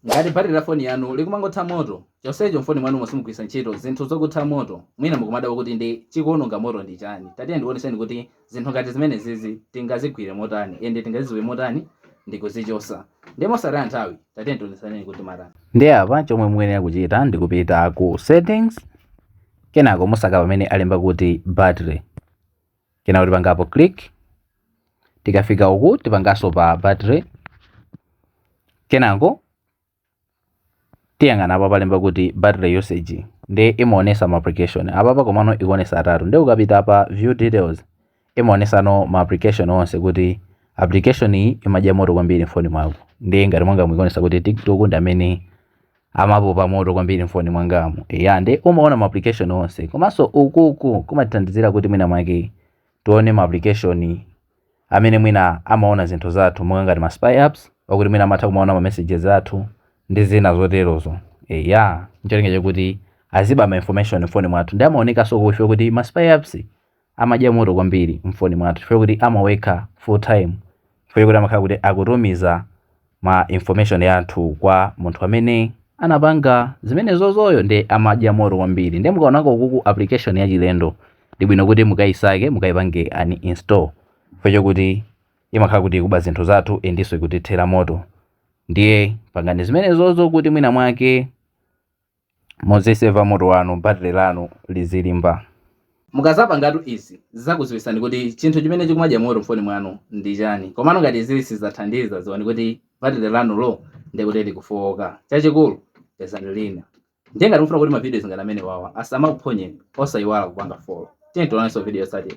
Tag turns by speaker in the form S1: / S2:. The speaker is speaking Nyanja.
S1: ngati battery la foni yanu likumangotha moto chonsecho mfoni mwanumo simugwiritsa ntchito zinthu zokutha moto mwina mukumadabwa kuti ndi chikuononga moto ndi chani tatiye ndikuoneseni kuti zinthu ngati zimenezizi tingazigwire motani ende tingazidziwe motani ndikuzichosa nde mosataya nthawi tatiye ndikuoneseni kuti mutani nde apa
S2: chomwe mukuyenera kuchita ndikupita ku settings kenako musake pamene alemba kuti battery kenako tipangapo click tikafika uku tipanganso pa battery kenako tiyang'ana apa palemba kuti battery usage nde imaonesa ma application apapa komano ikuonesa atatu nde ukapita apa view details imaonesano ma application onse kuti application iyi imadya moto kwambiri mfoni mwako nde ngati mwangamu ikuonesa kuti tiktok ndi amene amapopa moto kwambiri mfoni mwangamu eya nde umaona ma application onse komanso ukuku kumatithandizira kuti mwina mwake tione ma application amene mwina amaona zinthu zathu monga ngati ma spy apps okuti mwina amatha kumaona ma messages athu ndi zina zoterozo eya ncholinga chakuti azibe ma information mfoni mwathu nde amaonekanso chifukwa choti ma spy apps amadya moto kwambiri mfoni mwathu chifukwa choti amawekha full time chifukwa choti amakhala kuti akutumiza ma information yathu kwa munthu amene anapanga zimenezozoyo nde amadya moto kwambiri nde mukaona kokuku application yachilendo ndi bwino kuti mukayisake mukayipange uninstall chifukwa chokuti imakhala kuti ikuba zinthu zathu endenso ikutithera moto ndiye pangani zimenezozo kuti mwina mwake Muziseva moto wanu, battery lanu lizilimba.
S1: Mukazapangatu izi, zizakuziwisani kuti chinthu chimene chikumadya moto mfoni mwanu ndi chani. Komano ngati izi sizathandiza, ziwani kuti battery lanulo ndi kuti likufowoka. Chachikulu, pezani lina. Ndiye ngati mufuna kuti ma videos ngati amenewawa asamakuphonyeni, osayiwala kupanga follow. Tiyeni tionenso video yotsatira.